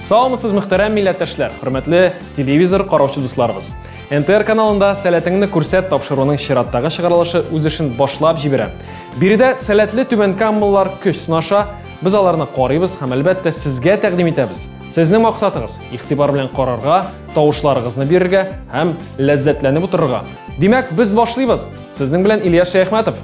Саумысыз мөхтәрәм милләттәшләр, хөрмәтле телевизор караучы дусларыбыз. НТР каналында сәләтеңне күрсәт тапшыруының чираттагы чыгарылышы үз эшен башлап җибәрә. Биредә сәләтле түбән каммалар көч сынаша, без аларны карыйбыз һәм әлбәттә сезгә тәкъдим итәбез. Сезнең максатыгыз игътибар белән карарга, тавышларыгызны бирергә һәм ләззәтләнеп утырырга. Димәк, без башлыйбыз. Сезнең белән Илья Шәяхмәтов.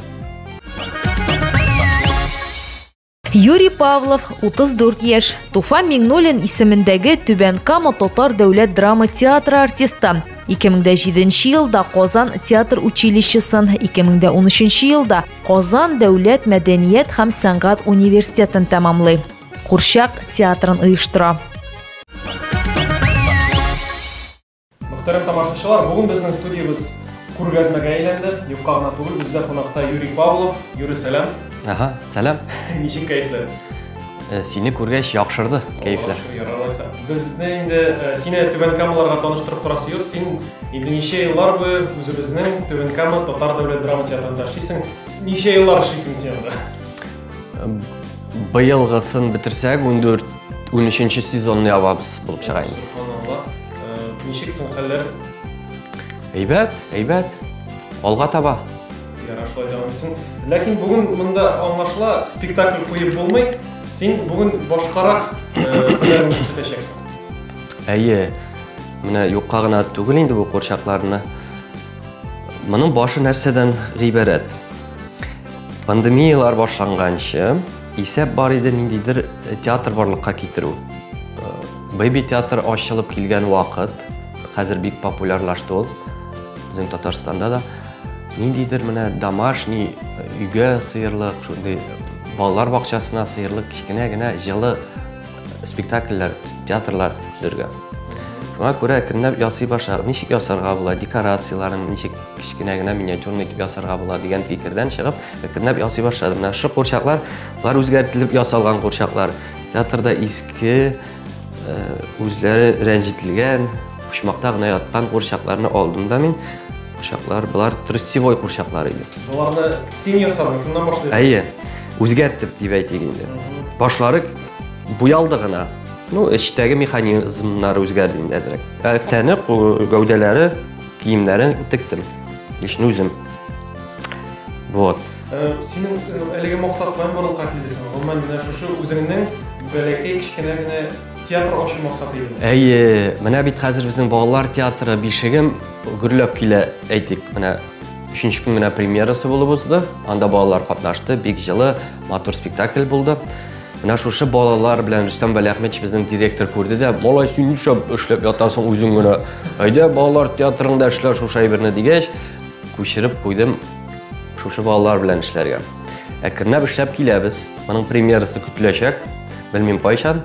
Юрий Павлов, 34 яшь, Туфа Миңнуллин исемендәге Түбән Кама татар дәүләт драма театры артисты. 2007 елда Казан театр училищесын, 2013 елда Казан дәүләт мәдәният һәм сәнгать университетын тәмамлый. Курчак театрын оештыра. Мөхтәрәм тамашачылар, бүген безнең студиябез күргәзмәгә әйләнде. Юкка гына түгел, бездә кунакта Юрий Павлов. Юрий, сәлам. Ага, сәлам. Ничек кәефләр? Э, сине күргәч яхшырды кәефләр. Яралайса. Безне инде э, сине Түбән Камаларга таныштырып торасы юк. Син инде ничә еллар буе үзебезнең Түбән Кама татар дәүләт драма театрында эшлисең. Ничә еллар эшлисең син анда? Быелгысын бетерсәк, 14 13 сезонны ябабыз булып чыга инде. Ничек соң хәлләр? Әйбәт, әйбәт. Алга таба. Ярар, шулай дәвам итсен. Ләкин бүген монда аңлашыла, спектакль куеп булмый. Син бүген башкарак хәлләрне күрсәтәчәксең. Әйе. Менә юкка гына түгел инде бу курчакларны. Моның башы нәрсәдән гыйбарәт? Пандемиялар башланганчы, исәп бар иде ниндидер э, театр барлыкка китерү. Э, Бэби театр ачылып килгән вакыт, хәзер бик популярлашты ул, безнең Татарстанда да. Ниндидер менә домашний э, өйгә сыерлык, шундый балалар бакчасына сыерлык кечкенә генә җылы спектакльләр, театрлар төзергә. Шуңа күрә әкренләп ясый башлар. Ничек ясарга була, декорацияләрен ничек кечкенә генә миниатюрный итеп ясарга була дигән фикердән чыгып, әкренләп ясый башладым. Менә шушы курчаклар, болар үзгәртелеп ясалган курчаклар. Театрда иске, э, үзләре рәнҗетелгән, почмакта гына яткан курчакларны алдым да мин. Курчаклар, болар тростевой курчаклар иде. Боларны син ясадың, шуннан башлыйк. Әйе, үзгәртеп дип әйтик инде. Башлары буялды гына. Ну, эчтәге механизмнар үзгәрде инде әзрәк. Ә тәне, гәүдәләре Киемнәрен тектем. Лично үзем. Вот. Э, синең э, әлеге максат белән барлыкка килдесең. Гомумән менә шушы үзеңнең бәләкәй кечкенә генә театр ачу максаты иде. Әйе, менә бит хәзер безнең балалар театры бишегем гөрләп килә, әйтик, менә Үшінші күн мына премьерасы болып узды. Анда балалар катнашты, бик жылы, матур спектакль булды. Менә шушы балалар белән Рөстәм Вәлиәхмәтович безнең директор күрде дә, "Малай, син нишләп эшләп ятасың үзең генә? Әйдә, балалар театрында эшлә шушы әйберне" дигәч, күчереп куйдым шушы балалар белән эшләргә. Әкренләп эшләп киләбез. Моның премьерасы көтеләчәк. Белмим кайчан.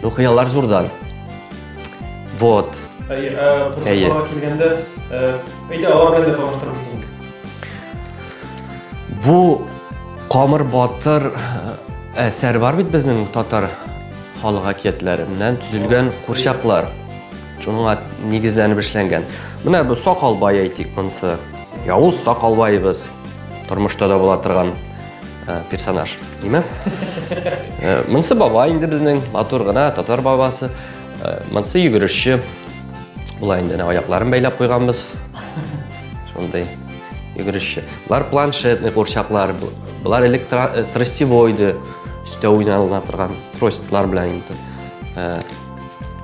Ну, хыяллар зурдан. Вот. Әйе, ә, килгәндә, әйдә, алар белән дә таныштырып Бу Камыр батыр э, әсәр бар бит безнең татар халык әкиятләреннән төзелгән курчаклар. Шуңа нигезләнеп эшләнгән. Менә бу Сакалбай әйтик монсы. Явыз Сакалбайыбыз тормышта да була торган э, персонаж, димме? Э, монсы бабай инде безнең матур гына татар бабасы. Э, монсы йөгерешче. Була инде аякларын бәйләп куйганбыз. Шундый йөгерешче. Бар планшетный курчаклар, Болар элек э, тростевойды өстә уйнала торган тростлар белән инде. Э,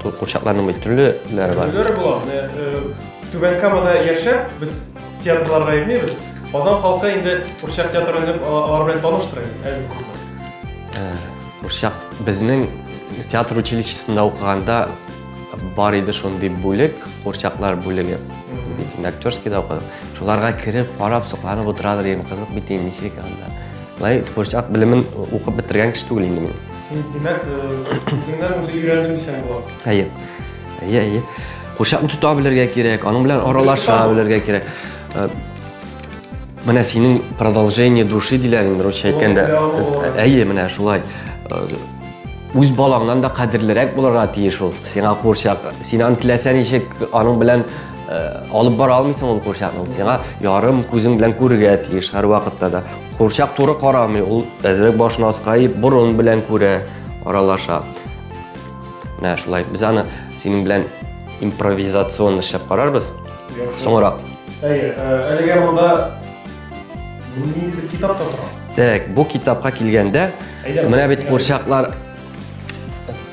курчакларның бит төрлеләре бар. Төрлеләре була. Э, Түбән Камада яшәп, без театрларга йөрмибез. Казан халкы инде курчак театрын дип алар белән таныштыра инде. Курчак безнең театр училищесында укыганда Бар иде шундый бүлек, курчаклар бүлеге. Без бит инде актерскийда укыдык. Шуларга кереп, карап, сокланып утырадыр идем, кызык бит инде ничек анда. Лай курчак белемен укып бетергән кеше түгел инде мин. Син димәк, үзеңнән үзе өйрәндең сән болар. Әйе. Әйе, әйе. Курчакны тота белергә кирәк, аның белән аралаша белергә кирәк. Менә синең продолжение души диләр инде русча әйткәндә. Әйе, менә шулай. үз балаңнан да кадерлерәк булырга тиеш ул сиңа курчак син аны теләсә ничек аның белән э, алып бара алмыйсың ул курчакны ул сиңа ярым күзең белән күрергә тиеш һәрвакытта да курчак туры карамый ул әзрәк башын аска иеп борын белән күрә аралаша менә шулай без аны синең белән импровизацион эшләп карарбыз соңрак әйе э, әлегә монда Мин бер китап та тора. Так, бу китапка килгәндә, менә бит курчаклар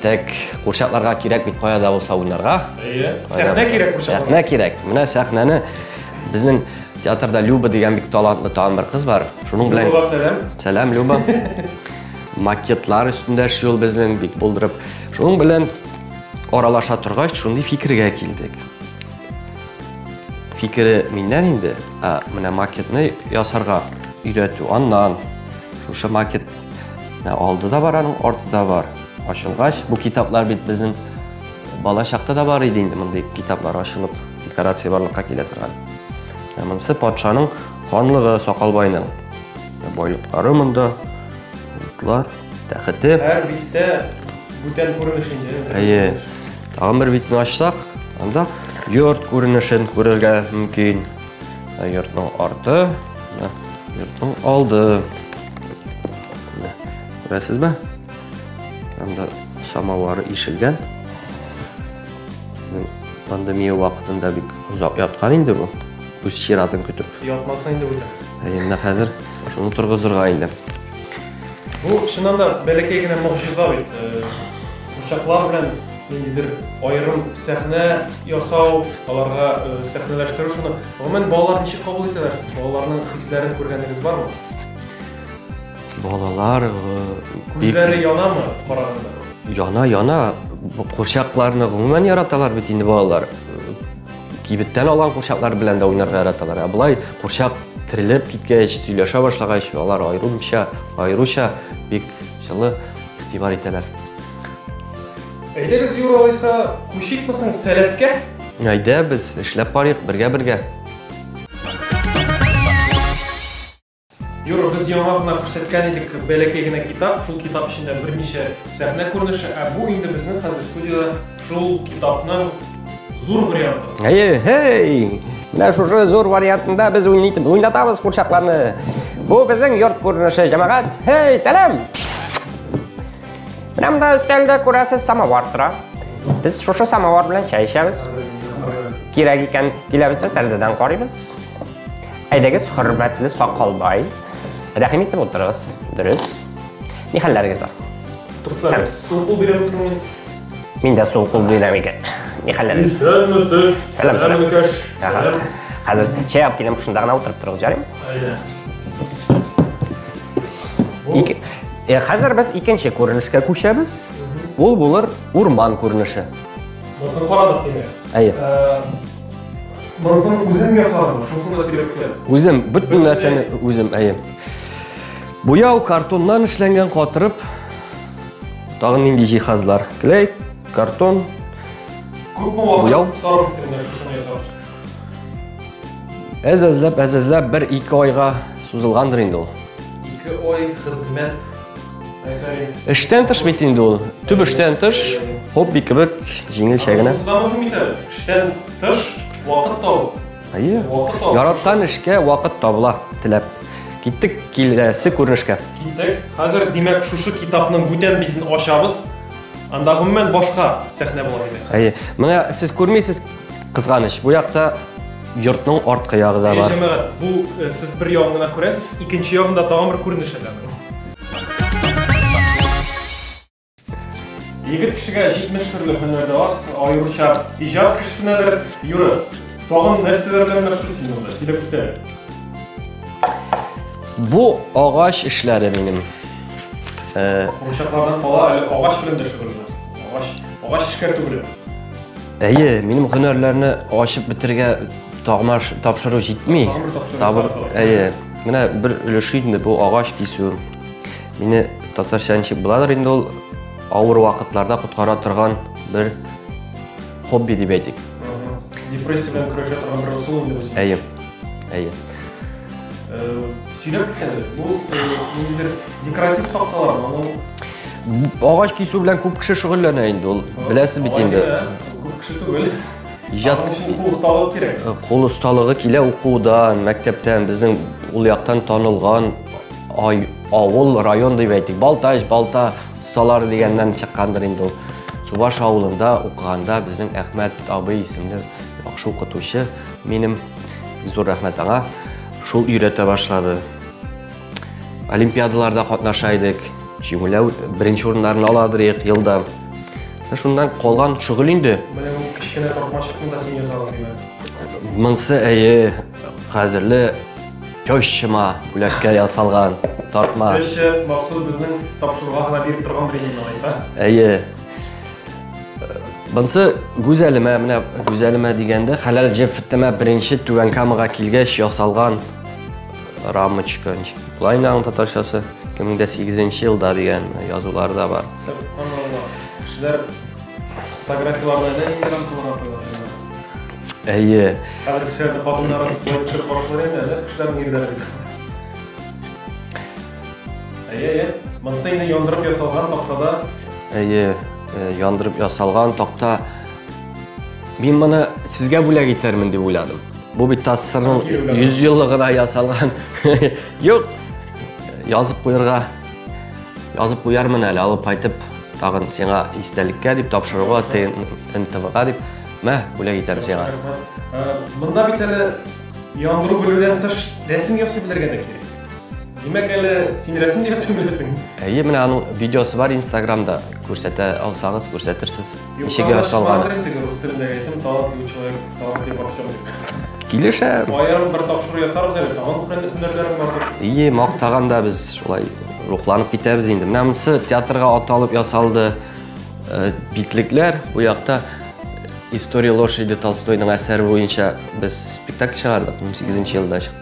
Так, курчакларга кирәк бит кая да булса уйнарга. Әйе. Сәхнә кирәк курчакларга. Сәхнә кирәк. Менә сәхнәне безнең театрда Люба дигән бик талантлы тагын бер кыз бар. Шуның белән Люба сәлам. Сәлам Люба. Макетлар өстендә эшли ул безнең бик булдырып. Шуның белән аралаша торгач, шундый фикергә килдек. Фикере миннән инде, ә менә макетны ясарга өйрәтү аннан. Шушы макет алды да бар, аның арты да бар. Ачылгач, бу китаплар бит безнең бала чакта да бар иде инде мондый китаплар ачылып, декорация барлыкка килә торган. Ә монысы патшаның ханлыгы Сакалбайның. Байлыклары монда, утлар. Тәхете. Һәр биттә бүтән күренеш инде. Әйе. Тагын бер битне ачсак, анда йорт күренешен күрергә мөмкин. Ә йортның арты, йортның алды. Күрәсезме? Анда самовары ишелгән. Пандемия вакытында бик озак яткан инде бу. Үз чиратын көтеп. Ятмаса инде бүтән. Әйе, менә хәзер шуны торгызырга инде. Бу чыннан да бәләкәй генә могҗиза бит. Курчаклар белән ниндидер аерым сәхнә ясау, аларга сәхнәләштерү шуны. Гомумән балалар ничек кабул итәләр? Балаларның хисләрен күргәнегез бармы? Балалар күзләре янамы караганда? Яна, яна. Курчакларны гомумән яраталар бит инде балалар. Кибеттән алган курчаклар белән дә уйнарга яраталар. Ә болай курчак терелеп киткәч, сөйләшә башлагач, алар аеруча, аеруча бик җылы игътибар итәләр. Әйдәгез, Юра алайса, күчикме соң сәләткә? Әйдә, без эшләп карыйк бергә-бергә. Юры, без яңа гына күрсәткән идек бәләкәй генә китап, шул китап эчендә берничә сәхнә күренеше, ә бу инде безнең хәзер студияда шул китапның зур варианты. Әйе, һей! Менә шушы зур вариантында без уйнатабыз курчакларны. Бу безнең йорт күренеше, җәмәгать. Һей, сәлам! Менә монда өстәлдә күрәсез самовар тора. Без шушы самовар белән чәй эчәбез. Кирәк икән, киләбез дә тәрәзәдән карыйбыз. Әйдәгез, хөрмәтле сакалбай. Рәхим итеп утырыгыз. Дөрес. Ни хәлләрегез бар? Сәмс. Суку бирәмез мин. Мин дә суык кул бирәм икән. Ни хәлләрегез? Исәнмесез. Сәлам, сәлам. Икәш. Ага. Сәлам. Хәзер чәй алып киләм, шунда гына утырып торыгыз, җарым. Әйдә. Ике... Э, хәзер без икенче күренешкә күчәбез. Ул булыр урман күренеше. Басын карадык, димәк. Әйе. Э, Монысын үзем ясадым, шусын да сөйләткән. Үзем, бөтен нәрсәне үзем, әйе. Буяу картоннан эшләнгән катырып, тагын нинди җиһазлар? Клей, картон, Күпме Буяу. вакыт сарыф иттең менә шушыны ясап? әз әзләп, әз әзләп бер ике айга сузылгандыр инде ул. Ике ай хезмәт Эштән тыш бит инде ул. Төп эштән тыш хобби кебек җиңелчә генә. Эштән тыш вакыт табу. Әйе. Яраткан эшкә вакыт табыла, теләп. Киттек киләсе күренешкә. Киттек. Хәзер, димәк, шушы китапның бүтән битен ачабыз. Анда гомумән башка сәхнә була димәк. Әйе. Менә сез күрмисез, Кызганыч, бу якта йортның арткы ягы да бар. Җәмәгать, бу э, сез бер ягын гына күрәсез, икенче ягында тагын бер күренеш әле. Егет кешегә 70 төрле һөнәр дә аз, аеруча иҗат кешесенәдер. Юры, тагын нәрсәләр белән мәшгуль син монда? Сөйләп үтә. Бу агач эшләре минем. Э, Курчаклардан кала әле агач белән дә шөгыльләнәсез. Агач, агач эшкәртү белән. Әйе, минем һөнәрләрне ачып бетергә тагмаш тапшыру җитми. Сабыр, әйе. Менә бер өлеше инде бу агач кисү. Мине татарча ничек буладыр инде ул авыр вакытларда коткара торган бер хобби дип әйтик. Депрессия белән көрәшә торган бер ысул инде бу. Әйе. Әйе. Сирәк кенә бу ниндидер декоратив такталар, ул агач кисү белән күп кеше шөгыльләнә инде ул. Беләсез бит инде. Күп кеше түгел. Иҗат кул осталыгы кирәк. Кул осталыгы килә укудан, мәктәптән, безнең ул яктан танылган ай авыл, район дип әйтик, Балтач, Балта салар дигәннән чыккандыр инде ул. Чуваш авылында укыганда безнең Әхмәт абый исемле яхшы укытучы Минем зур рәхмәт аңа. Шул өйрәтә башлады. Олимпиадаларда катнаша идек. Җиңүлә беренче урыннарны ала идек елда. Шуннан калган шөгыль инде. Менә бу кечкенә тормашыкны да син яза алмыйсың. Монсы әйе, кадерле тещама бүләккә ясалган тартма. Теща махсус безнең тапшыруга гына биреп торган премия алайса. Әйе. Бынсы гүзәлемә, менә гүзәлемә дигәндә, хәләл җефтемә беренче Түбән Камага килгәч ясалган рамочка. Болай инде аның татарчасы 2008 елда дигән язулар да бар. Кешеләр фотографияләрне дә инде рамкаларга куялар. Әйе. Хәзер кешеләрдә хатыннарын куеп карашлар инде, кешеләрнең ирләре. Әйе, монысы инде яндырып ясалган тактада. Әйе, э, яндырып ясалган такта. Мин моны сезгә бүләк итәрмен дип уйладым. Бу бит ТАССРның 100 еллыгына ясалган. Юк. Язып куярга. Язып куярмын әле, алып кайтып, тагын сиңа истәлеккә дип тапшыруга, ТНТВга дип. Мә, бүләк итәм сиңа. Э, монда бит әле яндыру бүлүдән тыш рәсем ясый белергә дә кирәк. Димәк, әле син рәсем дигәсен беләсең. Әйе, менә аның видеосы бар Инстаграмда. Күрсәтә алсагыз, күрсәтерсез. Ничеге ашалган. Рус телендә әйтем, талантлы человек, талантлы во всем. Килешә. Аерым бер тапшыру ясарбыз әле, тагын бер һөнәрләрең бар. Әйе, мактаган да без шулай рухланып китәбез инде. Менә монысы театрга аталып ясалды. Э, Битлекләр бу якта история лошади Толстойның әсәре буенча без спектакль чыгардык 18 елда чыкты.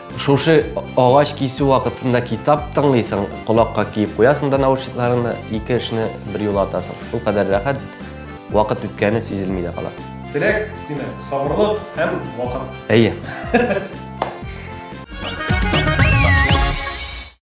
Шушы агач кисү вакытында китап тыңлыйсың, колакка киеп куясың да наушникларыңны, ике эшне бер юлы атасың. Шул кадәр рәхәт, вакыт үткәне сизелми дә кала. Теләк, димәк, сабырлык һәм вакыт. Әйе.